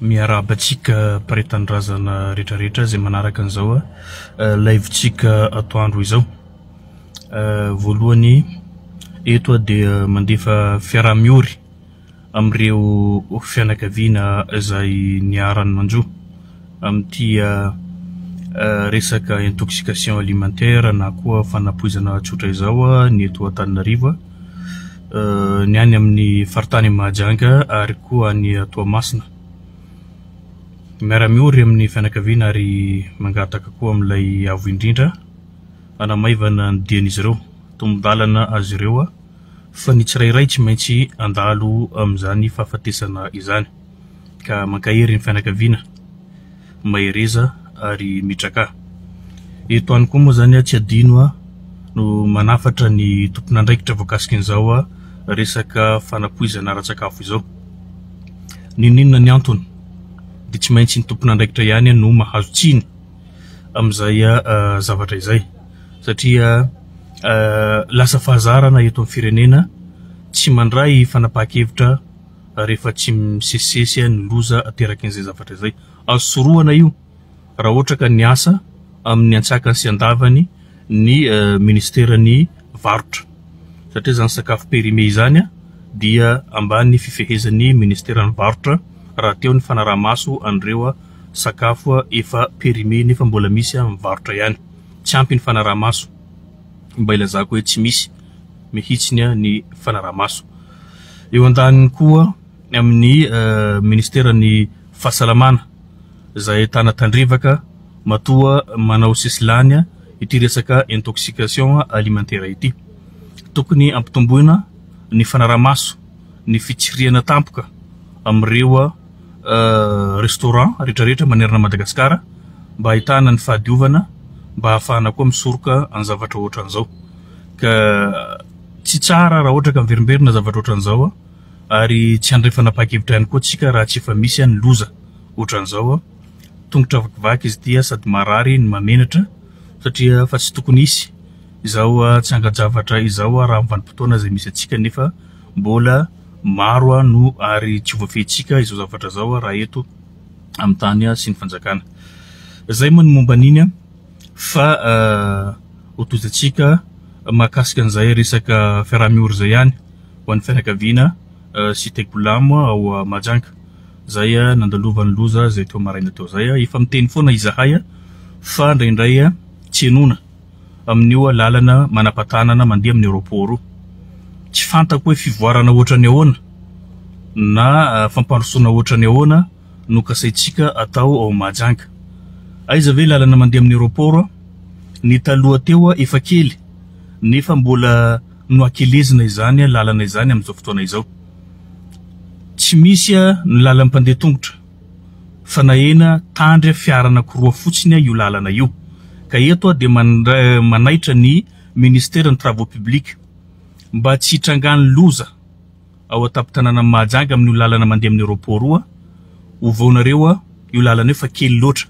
Miarahaba antsika mpare tanindrazana rehetra rehetra izay manaraka an'izao live tsika atoandro izao. Voalohany eto aho dia mandefa fiaraha-miory amin'ireo fianakaviana izay niharan'ny manjo amin'ity resaka intoxication alimentaire na koa fanapoizana tsotra izao ny eto Antananarivo. ny any amin'ny faritany Mahajanga ary koa any Toamasina. Miara-miory amin'ny fianakaviana ary mangataka koa amin'ilay Avo Indrindra hanamaivana ny dian'izy ireo. Tombon-dalana azy ireo fa ny tsirairay tsy maintsy handalo amin'izany fahafatesana izany. ka mankahery ny fianakaviana mahereza ary mitrakà. Eto ihany koa moa izany tsy adino no manafatra ny tompon'andraikitra voakasiky an'izao resaka fanapoizana ara-tsakafo izao. N'inon'inona ny antony dia tsy maintsy ny tompon'andraikitra ihany no mahazo tsiny amin'izay zavatra izay satria lasa fahazarana eto amin'ny firenena tsy mandray fanapahan-kevitra. rehefa tsy misesisesy ny loza aterakin'izay zavatra izay. Azo sorohana io raha ohatra ka niasa amin'ny antsakany sy andavany ny minisiteran'ny varotra satria izany sakafo périmé izany dia ambany fifehezan'ny minisiteran'ny varotra rahateo ny fanarahamaso an'ireo sakafo efa périmé nefa mbola misy amin'ny varotra ihany. Tsy ampy ny fanarahamaso, mba ilazako hoe tsy misy mihitsy ny fanarahamaso. Eo andaniny koa amin'ny ministeran'ny fahasalamana izay ahitana tandrevaka matoa manao sisilany ity resaka intoxication alimentaire ity. Tokony ampitomboina ny fanarahamaso ny fitsirihana tampoka amin'ireo restaurant rehetra rehetra manerana an'i Madagasikara mba ahitana ny fahadiovana mba hahafahana koa misoroka ny zavatra ohatran'izao ka Tsy tsara raha ohatra ka miverimberina zavatra ohatran'izao an! ary tsy handray fanapahan-kevitra ihany koa tsika raha tsy efa misy an ny loza ohatran'izao an! tongotra vakivaky izy ity an! sady marary no mahamenatra satria fa tsy tokony hisy izao tsy angan-javatra izao raha amin'ny vanim-potoana izay misy antsika nefa mbola maro an no ary tsy ho voafehintsika izao zavatra izao raha eto amin'ny tany sy ny fanjakana izay moa ny momba an'iny an! Fa ho tozantsika mahakasika an'izay resaka fiaraha-miora izay ihany ho an'ny fianakaviana sy Tegbolam ao Mahajanga, izay nandalovan'ny loza izay teo maraina teo izay. Efa miteny foana izahay fa indraindray tsy henoina amin'io lalana manam-patanana mandeha amin'ny aeroport io. Tsy fantako hoe fivoarana ohatran'ny ahoana na fampandrosoana ohatran'ny ahoana. no kasaintsika atao ao Mahajanga. Aiza ve lalana mandeha amin'ny aeroport? Ny taloha teo efa kely nefa mbola nohakelezina izany lalana izany amin'izao fotoana izao. Tsy misy ny lalan'ny mpandeha tongotra fa nahena tandry fiara anankiroa fotsiny io lalana io. Ka eto aho dia manaitra ny Ministeran'ny Travaux Publics mba tsy hitrangan'ny loza. ao an-tampon-tanànan'i Mahajanga amin'io lalana mandeha amin'ny Aeroport io an! Ovao nareo an! Io lalana io fa kely loatra!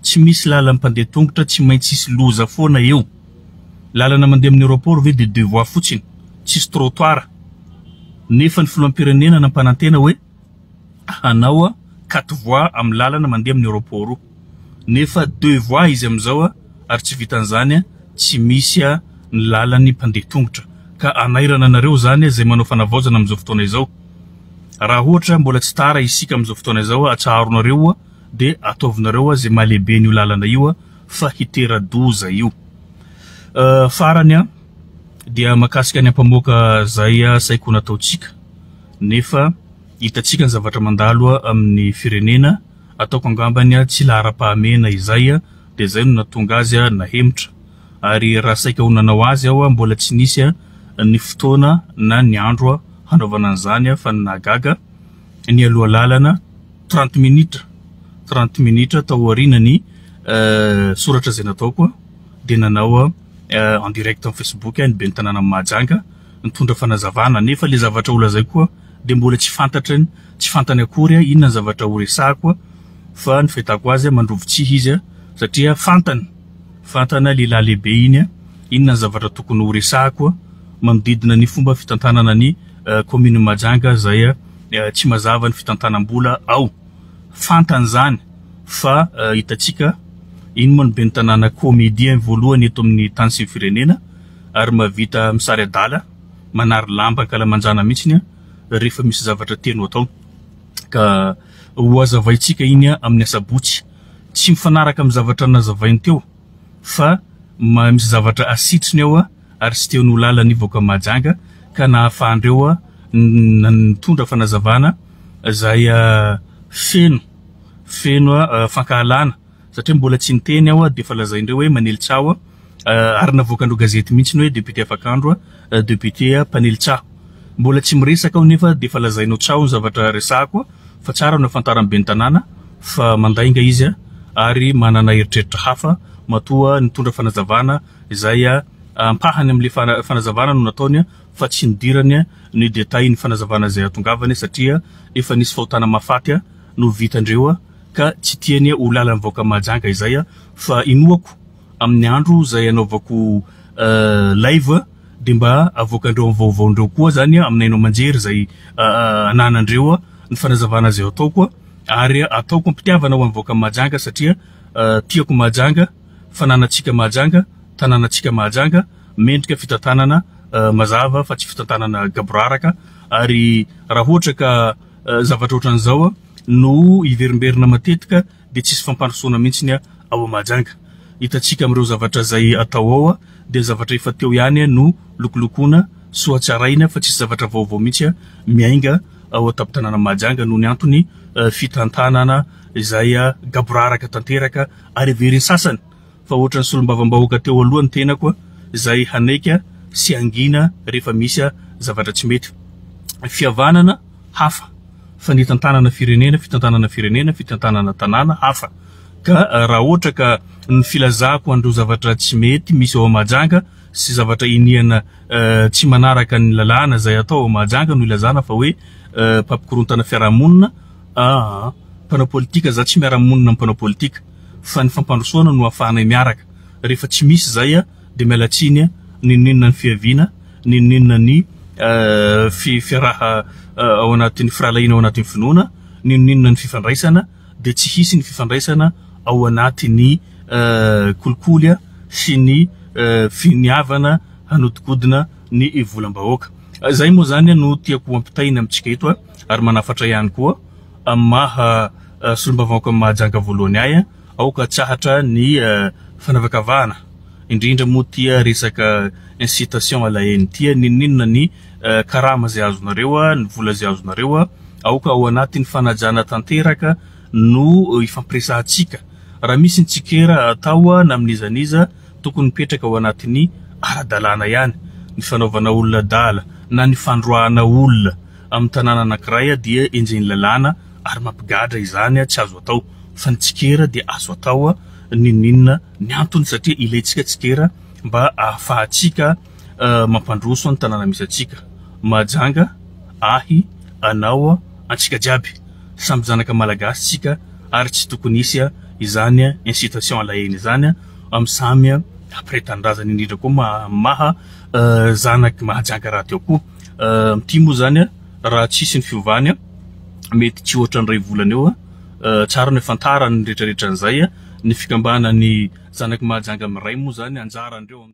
Tsy misy lalan'ny mpandeha tongotra, tsy maintsy hisy loza foana eo! Lalana mandeha amin'ny Aeroport ve dia deux voies fotsiny, tsisy trottoir? Nefa ny filoham-pirenena nampanantena hoe hanao quatre voies amin'ny lalana mandeha amin'ny Aeroport io! nefa deux voies izy amin'izao ary tsy vitan'izany tsy misy ny lalan'ny mpandeha tongotra ka hanairana anareo izany izay manao fanavaozana amin'izao fotoana izao. Raha ohatra mbola tsy tara isika amin'izao fotoana izao atsaharonareo dia ataovinareo izay mahalehibe an'io lalana io fa hitera-doza io. Farany dia mahakasika ny ampamoaka izay saika ho nataontsika nefa hitantsika ny zavatra mandalo amin'ny firenena. Ataoko angambany tsy laharam-pahamehana izay dia izay no nahatonga azy nahemotra. Ary raha saika ho nanao azy aho, mbola tsy nisy ny fotoana na ny andro hanaovana an'izany fa ny nahagaga, nialoha lalana trente minitra, trente minitra tao aorianan'ny soratra izay nataoko dia nanao en direct amin'ny facebook ny ben'ny tanànan'i Mahajanga nitondra fanazavana nefa ilay zavatra holazaiko dia mbola tsy fantatry ny tsy fantany akory inona ny zavatra horesahako fa ny fahitako azy mandrovo tsihy izy satria fantany fantana lehilahy lehibe iny inona ny zavatra tokony horesahako manodidina ny fomba fitantanana ny komini Mahajanga zay tsy mazava ny fitantanam-bola ao fantany izany fa hitantsika iny moa ny ben'ny tanàna comédien voalohany eto amin'ny tany sy ny firenena ary mahavita misary adala manary lamba ankalamanjana mihitsy rehefa misy zavatra tianao atao. Ka ho hazavaintsika iny amin'ny asabotsy. Tsy mifanaraka amin'ny zavatra nazavainy teo fa misy zavatra asitriny ao ary tsy tian'ho lalan'ny vahoaka Mahajanga ka nahafahandreo nitondra fanazavana izay feno feno fankahalana. satria mbola tsy niteny aho dia efa lazaindreo hoe manely tsaho aho ary navoakandreo gazety mihitsy ny hoe député afakandro, député mpanely tsaho. Mbola tsy miresaka aho nefa dia efa lazainao tsaho ny zavatra resahako fa tsara no afantaran'ny ben'ny tanàna fa mandainga izy ary manana eritreritra hafa matoa nitondra fanazavana izay ampahany amin'ilay fanazavana no nataony fa tsy nidirany ny détails ny fanazavana izay hatongavany satria efa nisy fahotana mahafaty no vitandreo ka tsy tiany ho lalan'ny vahoaka Mahajanga izay fa inoako amin'ny andro izay anaovako live dia mba avoakandreo amin'ny vaovaondreo koa izany amin'ny haino aman-jery izay ananandreo ny fanazavana izay ataoko ary ataoko am-pitiavana ho an'ny vahoaka Mahajanga satria tiako Mahajanga, fananantsika Mahajanga, tanànantsika Mahajanga, mendrika fitantanana mazava fa tsy fitantanana gaboraraka ary raha ohatra ka. zavatra ohatran'izao no hiverimberina matetika dia tsisy fampandrosoana mihitsy ny ao Mahajanga. Hitantsika amin'ireo zavatra izay atao ao dia zavatra efa teo ihany no lokolokoina sy hohatsaraina fa tsisy zavatra vaovao mihitsy miainga ao an-tampon-tanàna Mahajanga noho ny antony fitantanana izay gaboraraka tanteraka ary heverin'ny sasany fa ohatran'ny solombavambahoaka teo aloha ny tenako izay hanaiky sy hangina rehefa misy zavatra tsy mety. Fihavanana, hafa, fa ny hitantanana firenena, fitantanana firenena, fitantanana tanàna, hafa. Ka raha ohatra ka ny filazako an'ireo zavatra tsy mety misy ao Mahajanga sy zavatra iniana tsy manaraka ny lalàna izay atao ao Mahajanga no ilazana fa hoe mpampikorontana fiarahamonina, aa, mpanao politika, za tsy miara-monina amin'ny mpanao politika. fa ny fampandrosoana no afahanay miaraka, rehefa tsy misy izay dia miala tsiny n'inon'inona ny fiaviana, n'inon'inona ny fiaraha ao anatin'ny firahalahiana ao anatin'ny finoana, n'inon'inona ny fifandraisana dia tsy hisy ny fifandraisana ao anatin'ny kolikoly sy ny finiavana hanodikodina ny volam-bahoaka. Izay moa izany no tiako hampitaina amintsika eto ary manafatra ihany koa. amin'ny maha solombavambaoakan'i Mahajanga voalohany ahy, aoka atsahatra ny fanavakavahana, indrindra moa tia resaka incitation à la haine tia, n'inon'inona ny karama izay azonareo, ny vola izay azonareo, aoka ao anatin'ny fanajana tanteraka no hifampiresahantsika, raha misy ny tsikera atao na amin'iza n'iza, tokony mipetraka ao anatin'ny ara-dalàna ihany ny fanaovana olona adala na ny fandroahana olona. Amin'ny tanàna anankiray dia enjehin'ny lalàna ary mampigadra izany tsy azo atao fa ny tsikera dia azo atao n'inon'inona ny antony satria ilaintsika tsikera mba ahafahantsika mampandroso ny tanàna misy antsika Mahajanga ahy anao antsika jiaby samy zanaka malagasy tsika ary tsy tokony hisy izany incitation à la haine izany amin'ny samy mpiray tanindrazana indrindra koa maha zanaky Mahajanga rahateo koa Ity moa zany a, raha tsy hisy ny fiovany a, mety tsy ohatra ny iray volana eo a, tsara ny fantarany ny retraretra an'izay a, ny fikambana ny zanaky Mahajanga miray moa zany anjarandreo am.